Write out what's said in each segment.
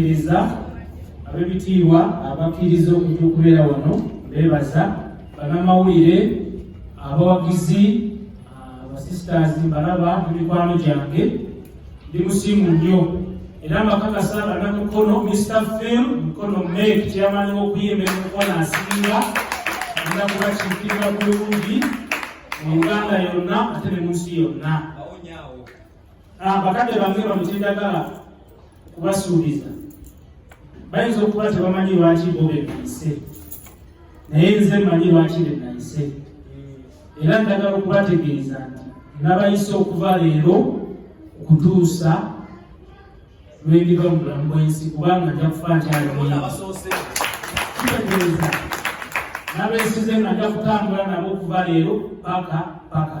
Iriza abebitiibwa abakkiriza okujja okubeera wano beebaza banamawulire abawagizi abasisters mbalaba emikwano gyange ndi musiimu nnyo era mbakakasa banamukono mr film mukono mek kyeyamani wokuyimba emukono asinga agenda kubakiikirira bulungi mu uganda yonna ate ne munsi yonna ah, bakadde bange bamutindagala kubasuubiza bayinza okuba tebamanyi lwaki bo benayise naye nze manyi lwaki benayise era ndagala okubategeeza nti nabayise okuva leero okutuusa lwendiva mu bulamu bwensi kubanga nja kufa nkyalimuyabasoosea nabesize nga nja kutambula nabo okuva leero paka paka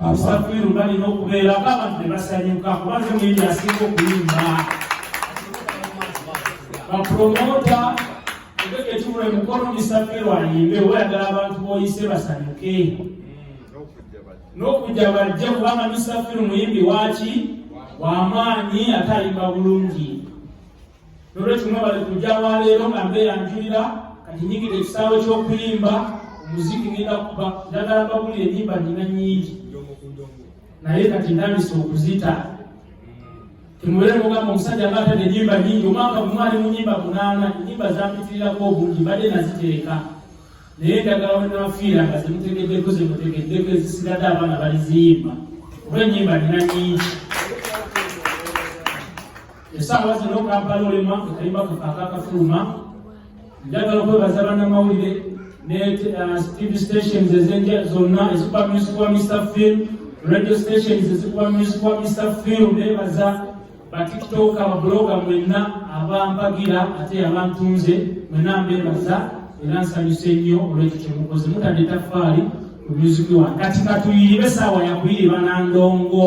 abasafiru balina okubeera abantu ne basanyuka kuba nze muyimbi asinga okuyimba bapromota egegekimulo emukolo misafiru ayimbe weyagala abantu boyise basanyuke n'okujja bajja kubanga misafiru muyimbi waki wamaanyi ate ayimba bulungi nolwekyo mwebale kujja waleero nga mbeera njulira kati nyigidde ekisaawe ky'okuyimba omuziki ngenda kuba njagala mbabulira enyimba nina nyingi naye kati ntandise okuzita temubeere mugamba omusajja nga atadde enyimba nyingi omwaka gumwali mu nyimba munaana enyimba zampitirirako obungi mbadde naziteeka naye njagala wenafiira nga zemutegeddeko zemutegeddeko ezisigadde abaana baliziyimba oba enyimba nina nyingi essaawa zino kampala olemwa ekayimba kakaaka kafuluma njagala okwebaza bannamawulire ne uh, tv stations ezenja zonna ezikuba music wa mr film radio stations ezikuba music wa mr film nebaza batiktok ababuloga mwenna abampagira ate abantunze mwenna mbebaza era nsanyuse nnyo olwekyo kyemukoze mutadde tafaali ku music wange kati katuyiribe essaawa yakuyiriba nandongo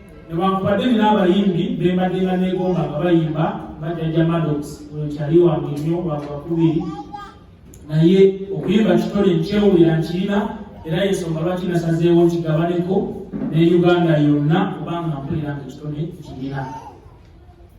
newankubadde nina abayimbi bembaddenga negomba nga bayimba bajaja madox oyo kyali wange nnyo wagwakubiri naye okuyimba kitole nkyewulira nkirina era yensonga lwaki nasazeewo nkigabaneko ne uganda yonna kubanga mpulira nga ekitole kirina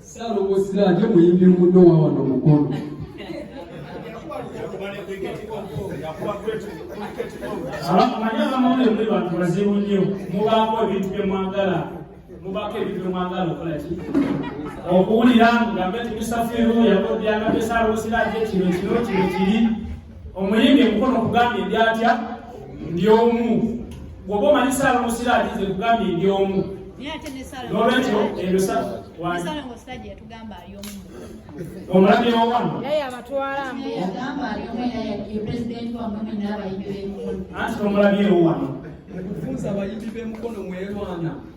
Salongo Siraje muyimbi muno wa wano Mukono. Abanyama mune muli bantu bazibu nnyo mubaako ebintu bye mwagala mubaako ebintu bye mwagala okola ki okuwulira nga mbetumisafiru yakodyanga bye Salongo Siraje kino kino kino kiri Omuyimbi emikono kugambye ndi atya ndi omu gwoba omanyi saala omusira alize kugambye ndi omu nolwekyo ebyo omulabi owano anti omulabi ewo wano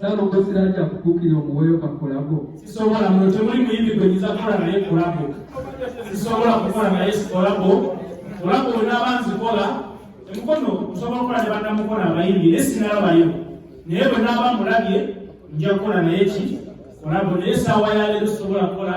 Salongo siraja kukukira omuweyo ka kolabo. Sisobola mwe temuli muyimbi gwe nyiza kola naye kolabo. Sisobola kukola naye kolabo. Kolabo wena abanzi kola. Emukono osobola kola ne banda mukola abayimbi ne sinalaba yo. Naye bwe naba mulabye nja kola naye ki kolabo naye sawa ya lero sobola kola.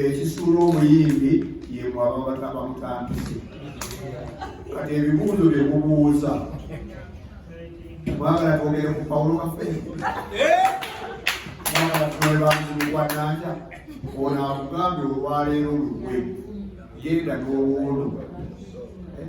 ekisuula omuyimbi yemwe ababata bamutandise kati ebibuuzo bye mubuuza mwagala twogere ku pawulo kafe mwagala tunobe banzimugwananja ono akugambye olwaleero lukwe genda n'owuuno